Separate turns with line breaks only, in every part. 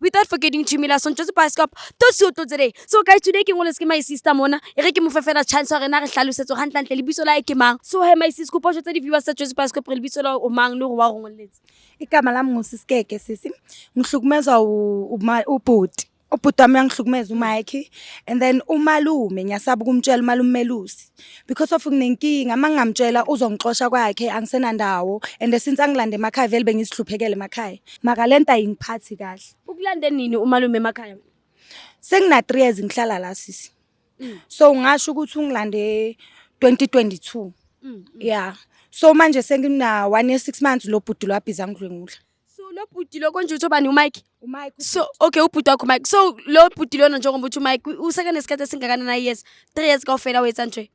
without forgetting to me la sontse se bioscope to se otlo tsere so guys today ke ngolese ke my sister mona e re ke mo fefela chance gore na re tlhalosetso ga ntlantle le bitso la e ke mang so he my sis go potso tse di viewers tsa Joyce bioscope re le bitso la o mang le gore wa go ngoletse igama lami
ngusisikeke sisi ngihlukumezwa ubhuti ubhuti wami uyangihlukumeza umayekhe and then umalume ngiyasaba ukumtshela umalume melusi because of nginenkinga uma ngingamtshela uzongixosha kwakhe angisenandawo and since angilande emakhaya vele bengisihluphekele emakhaya maka le nto ayingiphathi kahle ukulande nini umalume
emakhaya sengina-three
years ngihlala la sisi mm. so ngasho ukuthi ungilande 2022 mm, mm. yeah so manje sengina-one year six months lo bhuti lwabhiza ngidlwengula so lo bhuti lo
konje uthiwa bani umike umike so okay ubhuti wakho umike so lo bhuti lona njengoba uthi umike useke nesikhathi esingakanani ayears three years kawufela wetsantre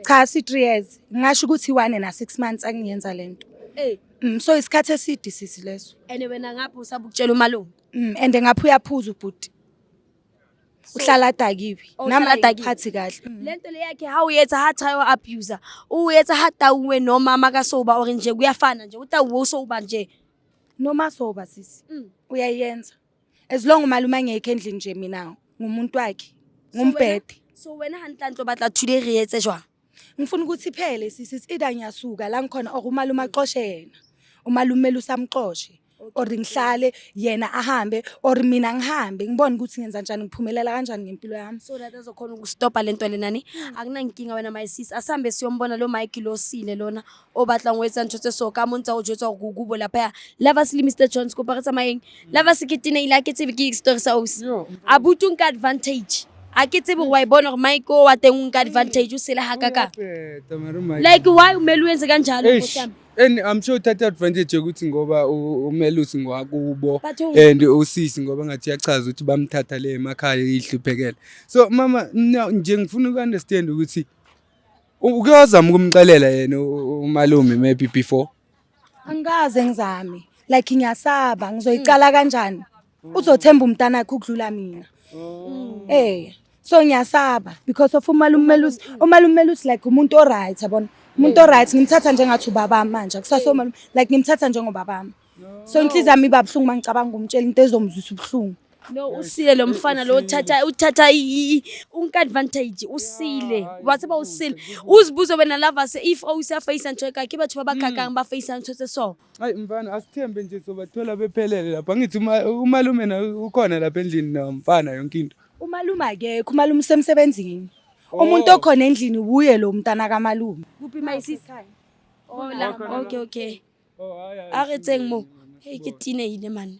cha si-three years
ngingasho ukuthi one and a six months angiyenza le nto Ey, Mm, so isikhathi eside sisi leso and wena ngapha
usabukutshela umalume Mm, and ngapha
uyaphuza ubhuti uhlala adakiwe Oh, nami uhlala adakiwe. akuphathi kahle Mm. le nto le yakhe ha
uyetsa ha thayo abuser uyetsa ha tauwe noma makasoba or nje kuyafana nje utauwe usoba nje noma soba
sisi Mm. uyayenza as long umalume angekho endlini nje mina ngumuntu wakhe ngumbhede so wena hantlantlo
batla today re etse jwang ngifuna ukuthi
iphele sisi ida ngiyasuka la ngikhona or umalume axoshe yena umalume lusamxoshe or ngihlale yena ahambe or mina ngihambe ngibone ukuthi ngenza njani ngiphumelela kanjani ngempilo yami so that azokhona ukustopa
lento lenani hmm. akunankinga wena my sis asambe siyombona lo Mike lo sile lona obatla ngwetsa ntshotse so ka montsa o jwetsa go kubo lapha ya lava sile Mr Jones ko paretsa mayeng hmm. lava se kitine ila ke tsebe ke story sa osi abutung ka advantage a ke tsebe wa ibona gore mike o wa teng o nka advantage o sele ga kaka like why o mele o entse ka njalo And I'm sure uthatha
advantage yokuthi ngoba umelusi ngwakubo and usisi ngoba ngathi yachaza ukuthi bamthatha le emakhaya ihluphekela. So mama no nje ngifuna uku understand ukuthi ukuyozama ukumxelela yena umalume maybe before. Angikaze
ngizame. Like ngiyasaba ngizoyicala kanjani? uzothemba umntanakhe ukudlula mina mm. eh so ngiyasaba because of umalumelusi umalumelusi like umuntu oright yabona umuntu oright ngimthatha njengathi ubaba manje kusase umalume like ngimthatha njengobaba wami so inhliziyo yami iba buhlungu mangicabanga umtshela into ezomzwisa ubuhlungu no usile lo
mfana lo uthatha uthatha unka advantage usile wathi ba usile uzibuze wena lava se if owusa face and check akhe bathu babakhankanga ba face and check so Hayi mfana asithembe
nje sobathola bephelele lapha. Angithi uma- umalume na ukhona lapha endlini na mfana yonke into. Umalume akekho,
umalume usemsebenzini. Umuntu okhona endlini wuye lo mntana kamalume. Kuphi my sis? Oh,
la. Okay, okay. Oh hayi. A re tseng mo. Hey, ke tine ile man.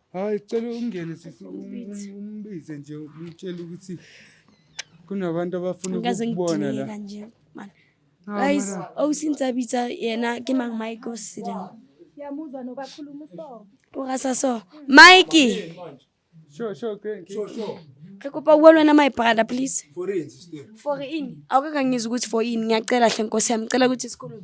Hayi cela ungene sisi umbize nje umtshela ukuthi kunabantu abafuna ukubona la. Guys,
awusinsabitsa oh, yena ke mang Mike osile. Siyamuzwa nobakhuluma so.
Ungasa
so.
Mike. Sure,
sure, okay. Sure,
sure. Re kopa uwe lwena my brother please. For in.
For in.
Awukakangizwa ukuthi for in ngiyacela hle nkosi yami cela ukuthi isikhulume.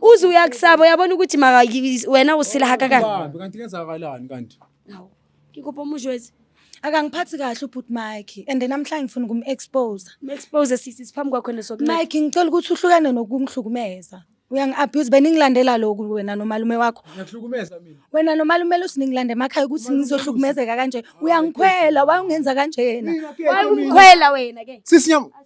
uze uyakusaba uyabona ukuthi maka wena usila hakakani Bambi, kanti kenzakalani
kanti Hawu,
ngikuphi omusho wezi akangiphathi kahle
ubhuti mike and namhlanje ngifuna ukum-expose me-expose sisi
siphambi kwakho nesokunene mike ngicela ukuthi uhlukane
nokungihlukumeza uyangi-abuse beningilandela lokhu wena nomalume wakho ngiyakuhlukumeza mina
wena nomalume
lusiningilanda emakhaya ukuthi Umalume ngizohlukumezeka kanje uyangikhwela wayungenza kanjena Mina ke, mina. wayumkhwela
wena ke sisinyama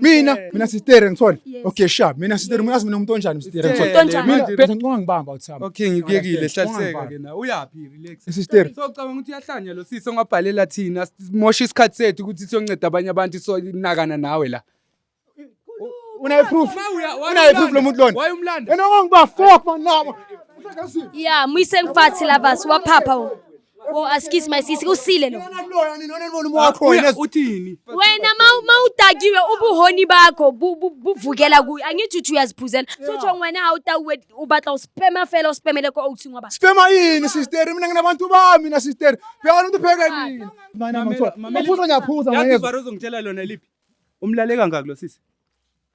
mina mina sitere ngithole okay sha mina sitere uyazi mina umuntu onjani sitere ngithole mina phela ngicabanga
ngibamba
uthamba okay ngikuyekile
hlaliseka ke na uyapi relax sitere so cabanga ukuthi
uyahlanya
lo sisi ongabhalela thina mosha isikhathi sethu ukuthi siyonceda abanye abantu so nakana nawe la
unayo proof unayo proof lo muntu lona wayumlanda yena ongiba
fuck
man nabo ya
muyise ngifathi lava siwaphapha Oh askisi my sisi usile lo. Yena kuloya nini wena nibona umoya wakho wena. Uthini?
Wena ma ma
udakiwe ubuhoni bakho bu- bu- buvukela kuyo angithi uthi uyaziphuzela sotsho wena awutawuwe ubatla uspema fela uspemele ko outhi ngoba Spema yini sister
mina nginabantu bami mina sister. Phela umuntu pheke yini. Mina Mamela, mamela. ngiphuza ngiyaphuza Yazi ngeke. ivara ozongitshela
lona
liphi?
Umlaleka ngakho lo sisi.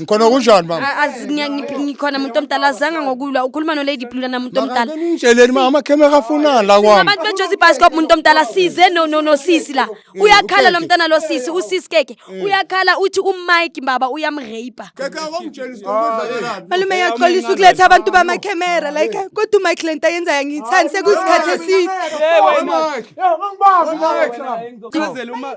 ngikhona
kunjani mama A- azi- ngiya- ngiphi- ngikhona muntu
omdala azanga ngokulwa ukhuluma nolady blue nana muntu omdala nitsheleni mama amakhemera
afunani la kwami abantu bejozi ibhasikop muntu
omdala size no- no- nosisi la uyakhala lo mntana lo sisi usisi keke uyakhala uthi umike baba uyamrape
malume yaxolisa
ukuletha abantu bamakhemera like kodwa umike le nto ayenza yangiyithandi sekuyisikhathi eside
Chazela uma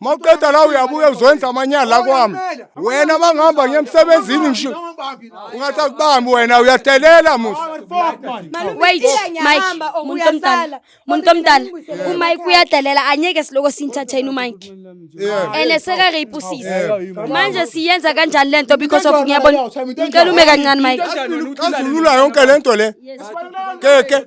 mawuqeda la uyabuya uzwenza amanyala kwami wena mangihamba ngiyemsebenzini ngisho ungathi akubambi wena uyadelela musa wait
mike muntu omdala muntu omdala umike uyadelela anyeke siloko sinthatha yini umike ene seka rape usisi manje siyenza kanjani lento because of ngiyabona ngicela ume kancane mike kazulula yonke
lento le keke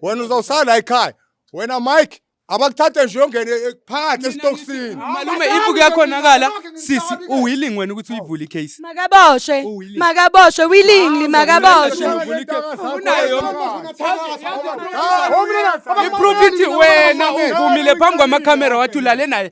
wena uzawusala ekhaya wena mike abakuthathe nje uyongene eh, phakathi esitokisini malume if
kuyakhonakala sisi uwilling wena ukuthi uyivule icase
makaboshwe Uwilling. makaboshwe willingly
makaboshwe iprofiti wena uvumile phambi kwamakhamera wathi ulale naye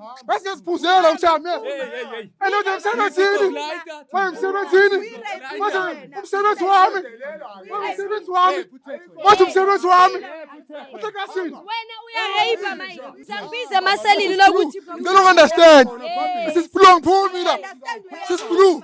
Bese siphuzela ushame. Elo nje msebenzini. Wewe msebenzini. Manje umsebenzi wami. Wewe msebenzi wami. Manje umsebenzi wami. Uthakasini. Wena uya rape manje. Ngisakubiza amaselini lokuthi. Ngicela understand.
This is blue ngiphumile. This is blue.